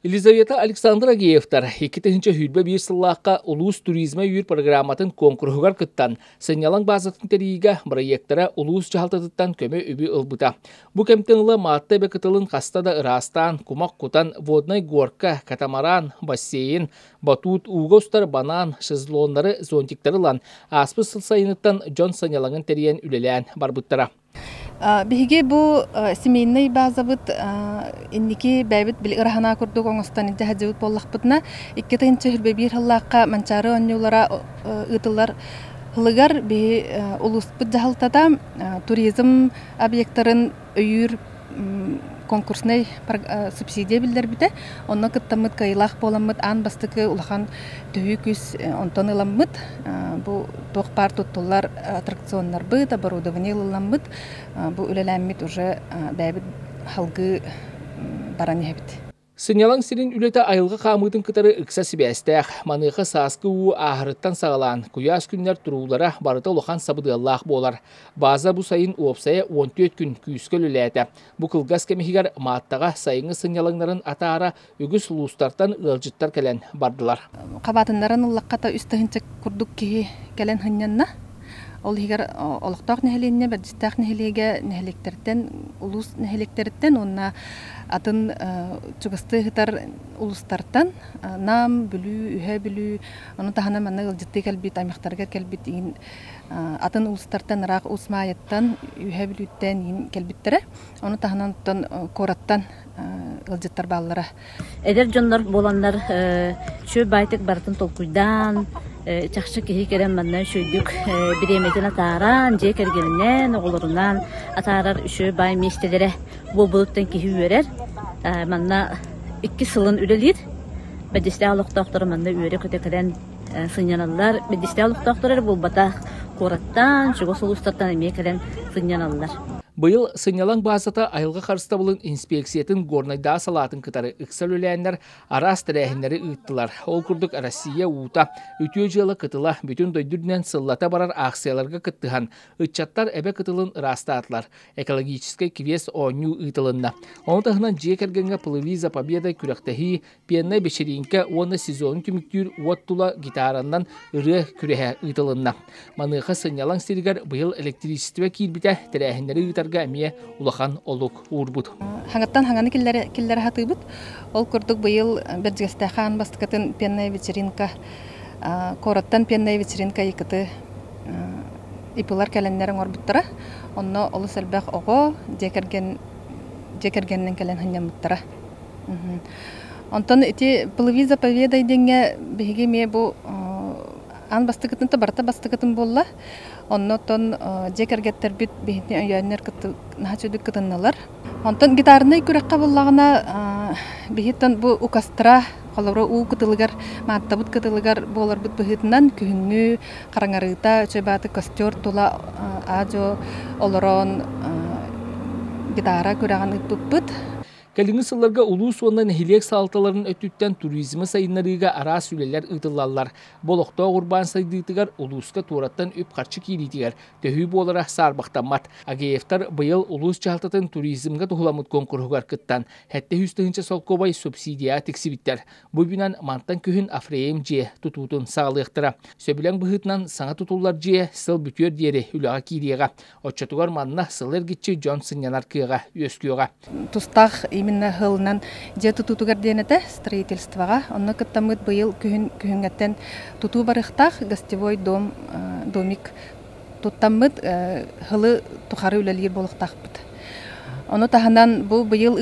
Елизавета Александра-Геевтар икки тыһыынча сүүрбэ биир сыллаахха улуус туризма үөр программатын куонкуруһугар кыттан, сынньалаҥ баазатын тэрийиигэ бырайыактара улуус дьаһалтатыттан көмө-үбү ылбыта. Бу кэмтэн ыла Маатта эбэ кытылын хаста да ыраастаан, кумах кутан, Водная горка, катамаран, бассейн, батут, ууга устар банаан, шезлоннары, зонтиктары ылан, ааспыт сыл сайыныттан дьон сынньалаҥын тэрийэн үлэлээн барбыттара. Биһиги бу семейнай базабыт инники бэйэбит били ыраһанаа курдук оҥостон илдьэ сылдьыбыт буоллахпытына икки тыһыынча сүүрбэ биир сыллаахха Манчаары оонньуулара ыытыллар сылыгар биһи улууспут дьаһалтата туризм объектарын өйүүр конкурснай субсидия биллэрбитэ. Онно кыттаммыт кыайыылаах буоламмыт аан бастакы улахан төһүү күс онтон ыламмыт. Бу туох баар туттуллар аттракционнарбыт, оборудование ылламмыт. Бу үлэлээммит уже бэйэбит халгыы баран иһэбит. Сынньалаҥ сирин үлэтэ айылҕа хаамыытын кытары ыкса сибээстээх. Маныаха сааскы уу ааһарыттан саҕалаан, куйаас күннэр туруулара барыта улахан сабыдыаллаах буолар. Бааза бу сайын уопсайа 14 күн күүскэ үлэлээтэ. Бу кылгас кэм иһигэр Мааттаҕа сайыҥҥы сынньалаҥнарын атаара үгүс улуустартан ыалдьыттар кэлэн бардылар. Хабаатыннаран ыллаххата үс тыһыынча курдук киһи кэлэн сынньанна. Ол иһигэр олохтоох нэһилиэнньэ Бэрдьистээх нэһилиэгэ нэһилиэктэртэн, улуус нэһилиэктэриттэн уонна атын чугастыы ыһытар улуустартан Нам, Бүлүү, Үһэ Бүлүү, ону таһынан манна ыалдьыттыы кэлбит аймахтарыгар кэлбит иин атын улуустартан ыраах уус Маайыттан, Үһэ Бүлүүттэн иин кэлбиттэрэ. Ону таһынан оттон куораттан ыалдьыттар бааллара. Эдэр дьоннор буоланнар шөй байтик барытын толкуйдаан чахчы киһи кэлэн манна үчөйдүк бириэмэтин атааран дьиэ кэргэнинэн оҕолорунаан атаарар үчөй бай миэстэлэрэ буолбулуттан киһи үөрэр манна икки сылын үлэлиир бэдьистээх олохтоохтору манна үөрэ көтө кэлэн сынньаналлар. Биирдистээх олохтоохтор эрэ буолбатах, куораттан, чугас улуустартан эмиэ кэлэн сынньаналлар. Быйыл сынньалаҥ баазата айылҕа харыстабылын инспиэксийэтин Горнайдааҕы салаатын кытары ыкса үлэлээннэр араас тэрээһиннэри ыыттылар. Ол курдук Россия уута, Үтүө дьыала кытыла бүтүн дойду үрдүнэн сыллата барар аахсыйаларга кыттыһан, ыччаттар эбэ кытылын ыраастаатылар. Экологическай квест оонньуу ыытылынна. Ону таһынан дьиэ кэргэҥҥэ плыви за победой күрэхтэһии пианнай бэчэрииҥкэ уонна сезонун түмүктүүр уот тула гитаранан ырыа күрэһэ ыытылынна. Маныаха сынньалаҥ сиригэр быйыл электричество киирбитэ, тэрээһиннэри ыытарга эмиэ улахан олук уурбут. Хаҥаттан хаҥаны киллэрэ киллэрэ сатыыбыт. Ол курдук быйыл Бэрдьигэстээх хаан бастакытын пианная вечеринка куораттан пианная вечеринка икыты ипылар кэлэннэр оҥорбуттара. Онно олус элбэх оҕо, дьиэ кэргэн дьиэ кэргэнинэн кэлэн сынньаммыттара. Онтон ити плыви заповедай диэҥҥэ биһиги эмиэ бу аан бастакытын да барыта бастакытын буолла. Онно оттон дьиэ кэргэттэрбит биһини өйөөннөр кыты наһаа үчүгэй кытыннылар. Онтон гитарнай күрэххэ буоллаҕына биһиттэн бу укастра Холобура, уу кытылыгар, мааттабыт кытылыгар буоларбыт быһыытынан, күһүҥҥү хараҥарыыта, чэйбааты костер тула аа-дьуо олорон гитара күрэҕин ыыппыппыт. Кэлиҥҥи сылларга улуус уонна нэһилиэк салалталарын өттүттэн туризмы сайыннарыыга араас үлэлэр ыытыллаллар. Бу олохтоох урбаан сайдыытыгар, улууска туораттан үп-харчы киириитигэр төһүү буолара саарбахтаммат. Агеевтар быйыл улуус дьаһалтатын туризмга туһуламмыт куонкуруһугар кыттан, Сэттэ сүүс тыһыынча солкуобай субсидия тиксибиттэр. Бу үбүнэн мантан күһүн Афреем дьиэ тутуутун саҕалыахтара. Сөбүлэҥ быһыытынан саҥа тутуллар дьиэ сыл бүтүөр диэри үлэҕэ киириэҕэ. Оччотугар манна сыл эргиччи дьон сынньанар кыаҕа үөскүөҕэ. Тустаах именно сылынан дьиэ тутуутугар диэн этэ строительствоҕа. Онно кыттаммыт быйыл күһүн күһүҥҥэттэн тутуу барыахтаах, гостевой дом, домик туттаммыт һылы тухары үлэлиир буолуктаахпыт. Ону таһынан бу быйыл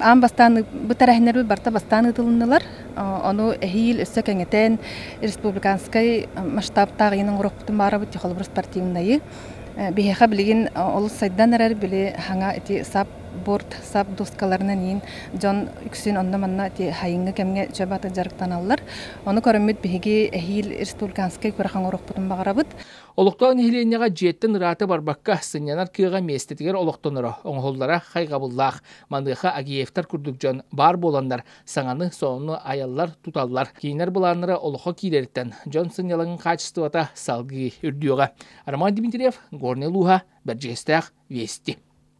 аан бастаан бытарахиннэрбит барта бастаан ыытылыннылар. Ону эһиил өссө кэҥэтэн республиканскай масштабтаах иинин уруккутун баарабыт чохолобур спортивнайы биһиэхэ билигин олус сайдан эрэр били хаҥа ити сап буорт сап дуускаларынан иин дьон үксүн онно-манна хайыҥҥы кэмҥэ чөп аты дьарыктаналлар. Ону көрөммүт биһиги эһиил Республиканскай күрэххэ оҥорохпутун баҕарабыт. Олохтоох нэһилиэнньэҕэ дьиэттэн ырааты барбакка, сынньанар кыаҕа миэстэтигэр олохтоноро, оҥоһуллара хайҕабыллаах. Маныаха Агеевтар курдук дьон баар буоланнар, саҥаны, сонуну айаллар, туталлар. Киинэр былааннара олоххо кииририттэн дьон сынньалаҥын хаачыстыбата салгыы үрдүөҕэ. Роман Дмитриев, Горнай улууһа, Бэрдьигэстээх, Вести.